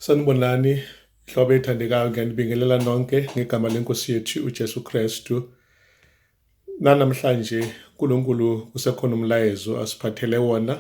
Sanibonani hlobo ethandekayo ngiyanibingelela nonke ngegama lenkosi yethu uJesu Kristu nanamhlanje uNkulunkulu kusekhona umlayezo asiphathele wona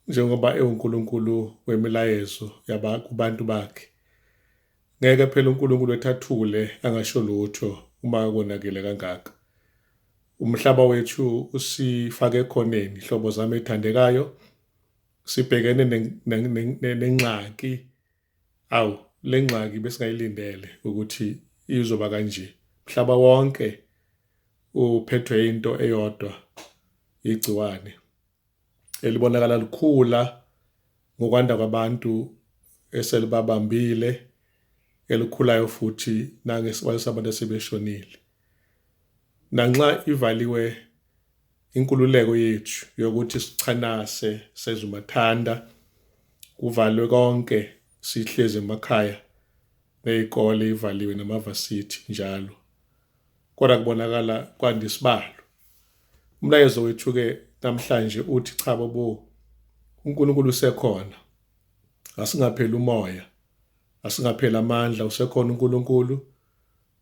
njengoba ewuNkulunkulu wemilayezo yaba kubantu bakhe ngeke phela uNkulunkulu ethathule angasho lutho uma konakele kangaka umhlaba wethu usifake ekhoneni hlobo zami ethandekayo sibhekene nengxaki awu le ngxaki besingayilindele ukuthi izoba kanje mhlaba wonke uphethwe into eyodwa igciwane elibonakala likhula ngokwanda kwabantu eselibabambile elikhulayo futhi nangesibalo sabantu asebeshonile Nanxa ivaliwe inkululeko yethu yokuthi sichanase sezumathanda kuvalwe konke sihlezi emakhaya ney'kole ivaliwe namavasithi njalo kodwa kubonakala kwanda isibalo umlayezo wethu-ke namhlanje uthi cha bobo uNkulunkulu usekhona asingapheli umoya asingapheli amandla usekhona uNkulunkulu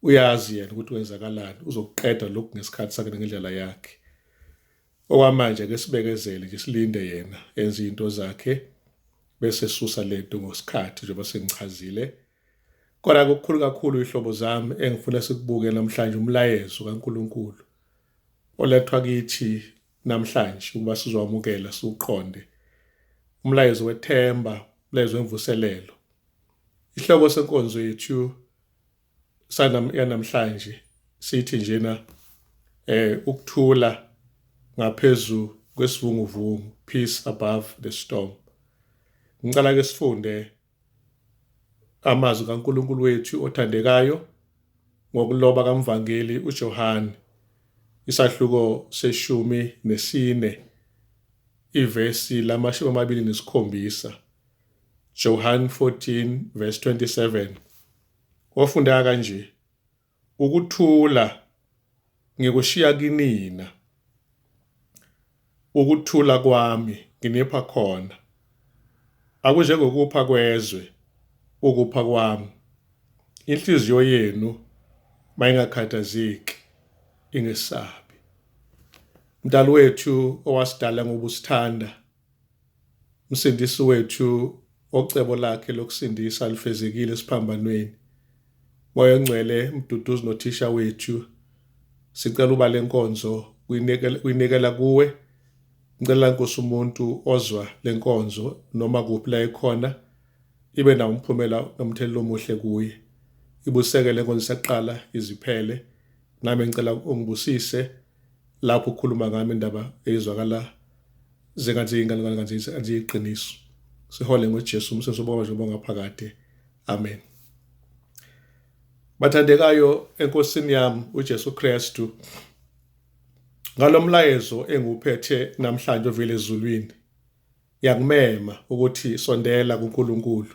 uyazi yena ukuthi wenzakalani uzokuqeda lokhu ngesikhathi sakhe ngendlela yakhe okwamanje ke sibekezele nje silinde yena enze izinto zakhe bese susa lento ngosikhathi njengoba sengichazile kodwa kukhulu kakhulu ihlobo zami engifuna sikubuke namhlanje umlayezo kaNkuluNkulu olethwa kithi namhlanje ukuba sizowamukela siwuqonde umlayezo wethemba umlayezo wemvuselelo ihloko senkonzo yethu sanam yanamhlanje sithi njena eh ukuthula ngaphezu kwesivunguvungu peace above the storm ngicela ke sifunde amazwi kaNkuluNkulu wethu othandekayo ngokuloba kamvangeli uJohane isahluko seshumi nesine ivesi lamashumi amabili nesikhombisa Johann 14 verse 27 Wafunda kanje, Ukuthula ngikushiya kinina, ukuthula kwami nginipha khona. Akunjengokupha kwezwe ukupha kwami. Inhliziyo yenu mayingakhathazeki, ingesabi. Mdali wethu owasidala ngobusithanda Msindisi wethu ocebo lakhe lokusindisa lifezekile esiphambanweni. Moya ongcwele mduduzi nothisha wethu sicela uba lenkonzo uyinikela kuwe ngicela nkosi umuntu ozwa lenkonzo noma kuphi la ekhona ibe nawo umphumela nomthelela omuhle kuye ibuseke lenkonzo saqala iziphele nami ngicela ungibusise lapho ukhuluma ngami indaba eyizwakala Zingazinga lingalinganzisa aliyiqiniso. Sihole ngoJesu umsebenzi obaba njengoba ngaphakade. Amen. Bathandekayo enkosini yami uJesu Kristu ngalomlayezo engiwuphethe namhlanje ovile ezulwini yakumema ukuthi sondela kuNkulunkulu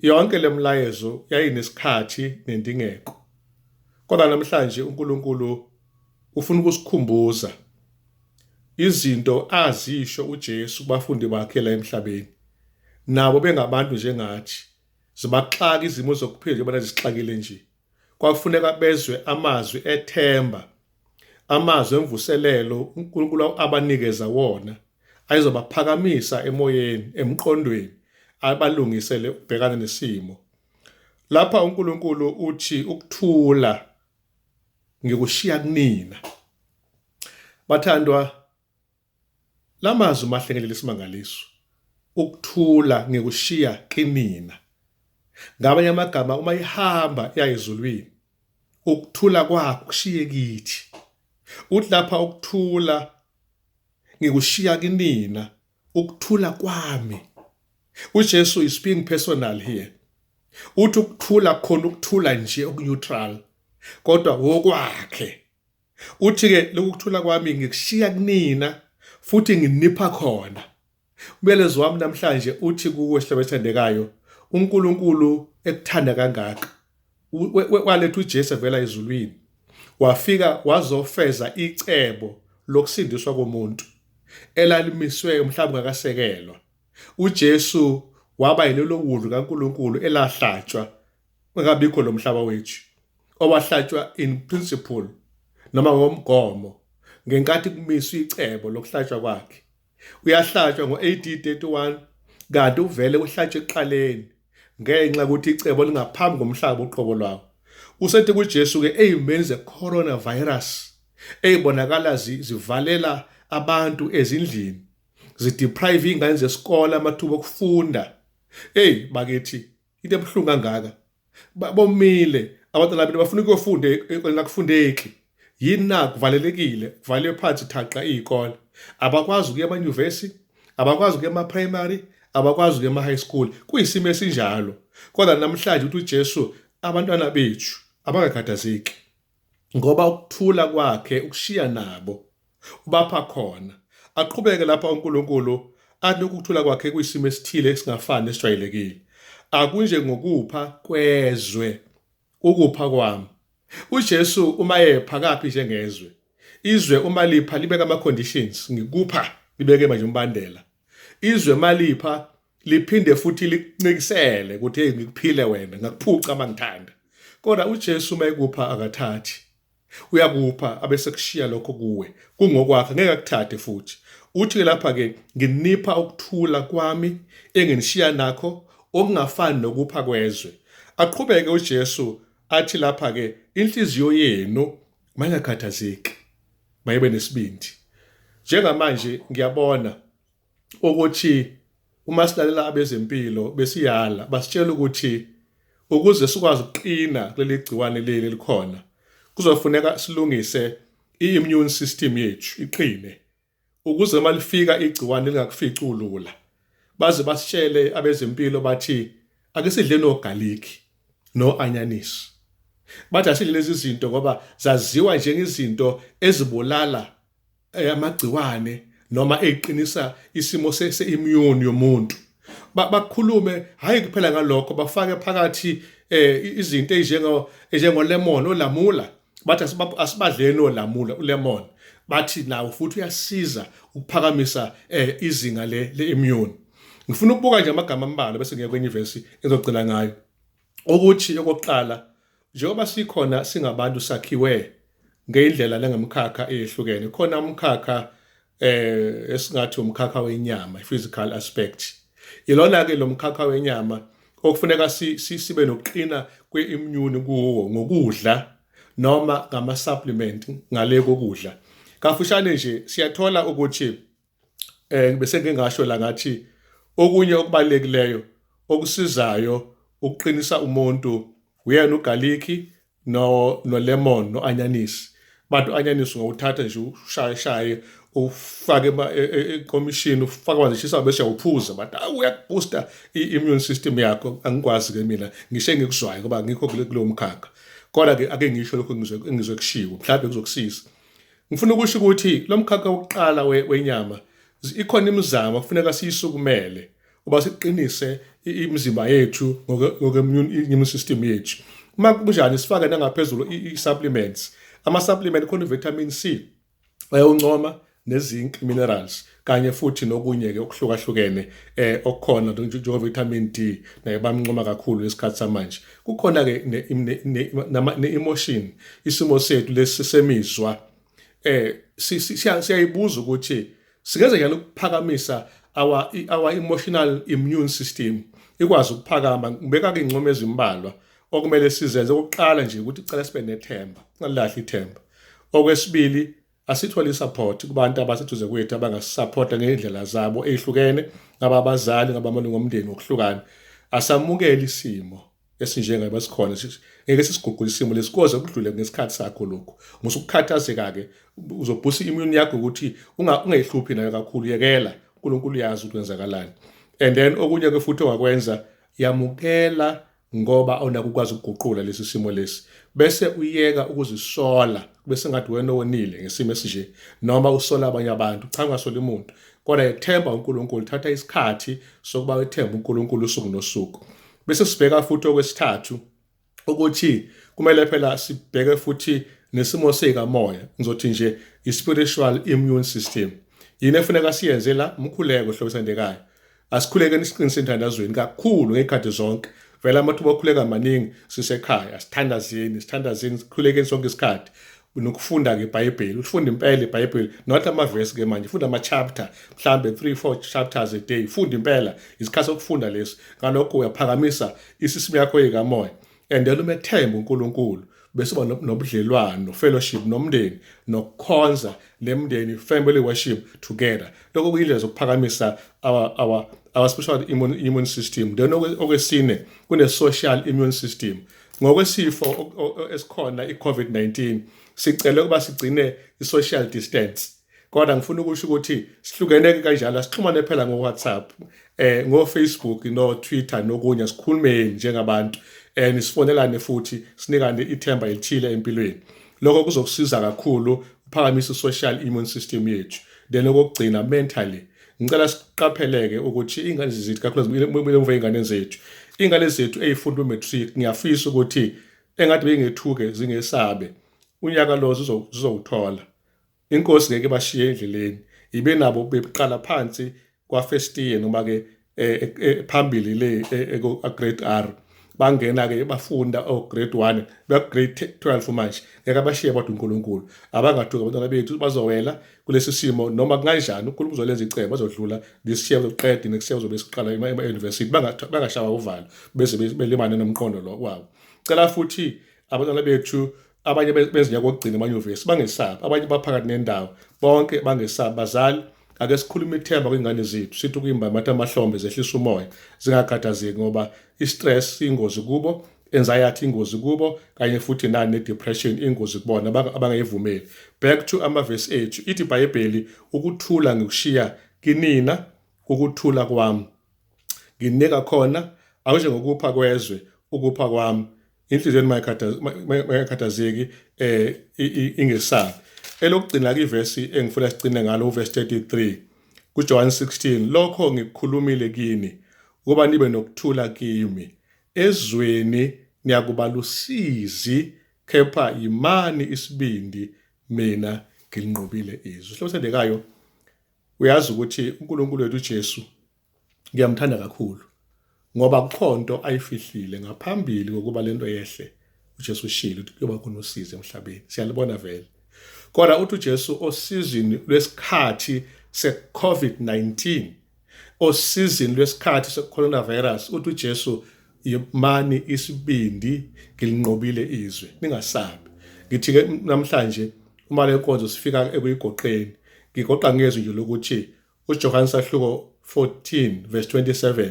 Yonke lemlayezo yayinesikhathi nendingeko. Kodwa namhlanje uNkulunkulu ufuna ukusikhumbuza izinto azisho uJesu kubafundi bakhe la emhlabeni. Nabo bengabantu njengathi, zibaxaka izimo zokuphila njengoba zisixakile nje. kwakufuneka bezwe amazwi ethemba, amazwi emvuselelo uNkulunkulu abanikeza wona, ayezobaphakamisa emoyeni, emqondweni, abalungisele ukubhekana nesimo. Lapha uNkulunkulu uthi ukuthula ngikushiya kunina. Bathandwa Lamazwi mahlengelela isimangaliso, ukuthula ngikushiya kinina. Ngamanye amagama uma ihamba iya ezulwini, ukuthula kwakho kushiye kithi. Uthi lapha ukuthula ngikushiya kinina, ukuthula kwami. UJesu is being personal here. Uthi ukuthula khona ukuthula nje okuneutral kodwa wokwakhe Uthi-ke lokhu kuthula kwami ngikushiya kunina futhi nginipha khona. Umyalezo wami namhlanje uthi kuwe sihlaba esithandekayo, uNkulunkulu ekuthanda kangaka waletha uJesu evela ezulwini wafika wazofeza icebo lokusindiswa komuntu elalimiswe mhlawumbe ngakasekelwa. UJesu waba yilelo wundlu kaNkulunkulu elahlatshwa ungabikho lo mhlaba wethu owahlatshwa in principle noma ngomgomo ngenkathi kumiswa icebo lokuhlatshwa kwakhe uyahlatshwa ngo-AD 31 kanti uvele uhlatshwe ekuqaleni ngenxa yokuthi icebo lingaphambi komhlaba uqobo lwawo usethi kuJesu-ke eyimeni ze-coronavirus eyibonakala zivalela abantu ezindlini zideprive iy'ngane zesikole amathuba okufunda eyi bakithi into ebuhlungu kangaka bomile abantwana bami bafuna ukuyofunda ekoleni akufundeki yini na kuvalelekile kuvalelwe phansi thaqa iy'kole abakwazi ukuya emanyuvesi abakwazi ukuya ema-primary abakwazi ukuya ema-high school kuyisimo esinjalo kodwa namhlanje ukuthi ujesu abantwana bethu abangakhathazeki ngoba ukuthula kwakhe ukushiya nabo ubapha khona aqhubeke lapha uNkulunkulu athi ukuthula kwakhe kuyisimo esithile esingafani nesijwayelekile akunje ngokupha kwezwe ukupha kwami uJesu uma epha kaphi njengezwe izwe uma lipha libeka ama conditions ngikupha libeke manje umbandela izwe malipha liphinde futhi likuncikisele ukuthi hey ngikuphile wena ngakuphuca mangithanda kodwa uJesu mayekupha akathathi uyakupha abese kushiya lokho kuwe kungokwakhe ngeke akuthathe futhi uthi ke lapha ke nginipha ukuthula kwami enginishiya nakho okungafani nokupha kwezwe aqhubeke uJesu athi lapha ke inhliziyo yenu mayingakhathazeki mayibe nesibindi njengamanje ngiyabona ukuthi uma silalela abezempilo besiyala basitshela ukuthi ukuze sikwazi ukuqina kuleli gciwane leli likhona kuzofuneka silungise i-immune system yethu iqine ukuze uma lifika igciwane lingakufici ulula baze basitshele abezempilo bathi ake sidle nogalikhi no-anyanisi bathi asidle lezi zinto ngoba zaziwa njengezinto ezibulala eh, amagciwane noma eqinisa isimo se-immune yomuntu bakhulume hhayi kuphela ngalokho bafake phakathi um izinto ezinjengolemon olamula bathi asibadleni olamula ulemon bathi nawo futhi uyasiza ukuphakamisa um izinga le-immune ngifuna ukubuka nje amagama ambalwa bese ngiya kwenye ivesi engizogcina ngayo ukuthi okokuqala njengoba sikhona singabantu sakhiwe ngeyindlela lengemkhakha eyehlukene khona umkhakha eh esingathi umkhakha wenyama physical aspect ilona ke lomkhakha wenyama okufuneka sibe nokuqina kwe-immune kuwo ngokudla noma ngama-supplement ngale kokudla kafushane nje siyathola ukuthi eh bese ngingasho la ngathi okunye okubalulekileyo okusizayo ukuqinisa umuntu uyena ugalikhi no no lemon no anyanisi bathi anyanisi ngokuthatha nje ushaye shaye ufake e, e, ekomishini ufake amanzi eshisa bese uphuza bathi awu uyakubooster i-immune system yakho angikwazi-ke mina ngisho engikuzwayo ngoba ngikho kulowo mkhakha kodwa-ke ake ngisho lokho engizwe kushiwo mhlawumbe kuzokusiza Ngifuna ukusho ukuthi lo mkhakha wokuqala wenyama ikhona imizamo kufuneka siyisukumele uba siqinise imizimba yethu ngokwe-immune system yethu uma kunjani sifake nangaphezulu i-supplements ama-supplement khona i-vitamin c ayoncoma ne-zinc minerals kanye futhi nokunye-ke okuhlukahlukene eh okukhona njengo-vitamin D naye bamncoma kakhulu ngesikhathi samanje kukhona-ke ne-emotion isimo sethu lesi semizwa eh siyayibuza ukuthi singenza njani ukuphakamisa our our emotional immune system ikwazi ukuphakama ngibeka ke ingcomo ezimbalwa okumele sizenze ukuqala nje ukuthi cela sibe nethemba singalilahli ithemba okwesibili Asithole i-support kubantu abaseduze kwethu abangasisapota ngey'ndlela zabo ey'hlukene, ngaba abazali, ngaba amalungu omndeni ngokuhlukana. Asamukele isimo esinjengayo basikhona ngeke sisiguqule isimo lesi koze kudlule ngesikhathi sakho lokhu musa ukukhathazeka-ke uzobhusa i-immune yakho ukuthi ungayihluphi nayo kakhulu yekela unkulunkulu uyazi ukuthi wenzakalani and then okunye-ke futhi ongakwenza yamukela ngoba awunaki ukwazi ukuguqula lesi simo lesi bese uyeka ukuzisola kube sengathi wena owonile ngesimo esinje noma usola abanye abantu cha ungasoli umuntu kodwa yethemba uNkulunkulu thatha isikhathi sokuba wethembe uNkulunkulu usuku nosuku bese sibheka futhi okwesithathu ukuthi kumele phela sibheke futhi nesimo sikamoya ngizothi nje i-spiritual immune system yini efuneka siyenze la umkhuleko hlobisa ndekayo Asikhulekeni siqinise enthandazweni kakhulu ngey'khathi zonke. Vele amathuba okhuleka maningi sisekhaya, sithandazeni, sithandazeni, sikhulekeni sonke isikhathi nokufunda-ke ibhayibheli ulifunde impela ibhayibheli not amavesi-ke manje funda ama-chapter mhlawumbe three four chapters a day funda impela isikhathi sokufunda lesi ngalokho uyaphakamisa isisimu yakho yekamoya and then uma ethemba uNkulunkulu bese uba nobudlelwano fellowship nomndeni nokukhonza lemndeni family worship together lokho kuyindlela zokuphakamisa our our our special immune, immune system then okwesine kune social immune system ngokwesifo esikhona iCovid-19 sicela ukuba sigcine isocial distance kodwa ngifuna ukusho ukuthi sihlukeneke kanjalo asixhumane phela ngo-whatsapp eh ngo-facebook no-twitter nokunye sikhulumeni njengabantu and sifonelane futhi sinikane ithemba elithile empilweni lokho kuzokusiza kakhulu uphakamisa i-social immune system yethu then okokugcina mentally ngicela siqapheleke ukuthi ingane zethu kakhulukazi umva ingane zethu ingane zethu eyifunda umatric ngiyafisa ukuthi engathi bengethuke zingesabe unyaka lo zizowuthola Inkosi ngeke bashiye endleleni ibe nabo beqala phansi kwafirst year noma-ke eh, eh, eh, phambili le grade r bangena-ke bafunda ograde oh, one begrade twelve manje ngeke abashiye kodwa unkulunkulu abangathuki abantwana bethu bazowela kulesi simo noma kunganjani unkulunkulu uzolenza icebo bazodlula ngesishiya zoqede nekushiya zobe siqala ema-university bangashawa uvalo beze belimane nomqondo lo wabo cela futhi abantwana bethu abanye bezinya kokugcina emanyuvesi bangesabi abanye baphakathi nendawo bonke bangesabi bazali ake sikhulume ithemba kwingane zethu sithi ukuyimba matha amahlombe zehlisa umoya zingakhathazeki ngoba i-stress ingozi kubo anxiety ingozi kubo kanye futhi nani ne-depression ingozi kubona abangayivumeli back to amavesi ethu ithi ibhayibheli ukuthula ngikushiya kinina ukuthula kwami nginika khona awunjengokupha kwezwe ukupha kwami inhliziyo yenu mayikhathazeki eh ingesabi elokugcina ke ivesi engifuna sigcine ngalo uverse 33 kuJohn 16 lokho ngikukhulumile kini ukuba nibe nokuthula kimi ezweni niyakuba lusizi kepha yimani isibindi mina ngilinqobile izwi hlosendekayo uyazi ukuthi uNkulunkulu wethu uJesu ngiyamthanda kakhulu ngoba kukhonto ayifihlile ngaphambili kokuba lento yehle uJesu ushilo ukuthi kuyoba khona usizi emhlabeni siyalibona vele kodwa uthi uJesu osizini lwesikhathi se-COVID-19 osizini lwesikhathi se-coronavirus uthi uJesu yimani isibindi ngilinqobile izwe ningasabi ngithi ke namhlanje uma lenkonzo sifika ekuyigoqeni ngigoqa ngezwi nje lokuthi uJohane sahluko 14 verse 27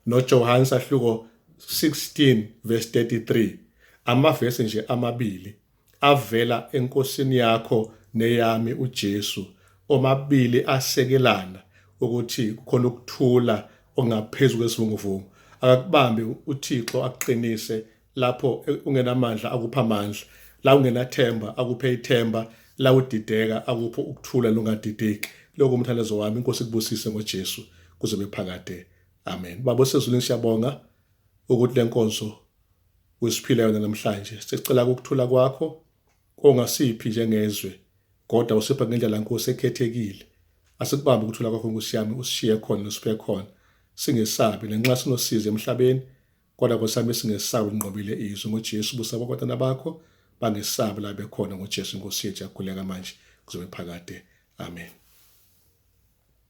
noJohane sahluko 16 verse 33 amavesi nje amabili avela enkosini yakho neyami uJesu omabili asekelana ukuthi khona ukuthula ongaphezulu kwesivunguvungu akakubambe uThixo aqinise lapho ungenamandla akupha amandla la ungenathemba akuphe ithemba la udideka akupho ukuthula lungadideki lokho umthandazo wami inkosi kubusise ngoJesu kuze bephakade amen baba osezulwini siyabonga ukuthi lenkonzo usiphile yona namhlanje sicela ukuthula kwakho kongasiphi njengezwe kodwa usipha ngendlela nkosi ekhethekile asikubambe ukuthula kwakho nkosi yami usishiye khona usiphe khona singesabi nanxa sinosizi emhlabeni Kodwa Nkosi yami singesabi linqobile izwi ngoJesu busa abantwana bakho bangesabi la bekhona ngoJesu Nkosi yethu yakhuleka manje kuzobe phakade. Amen.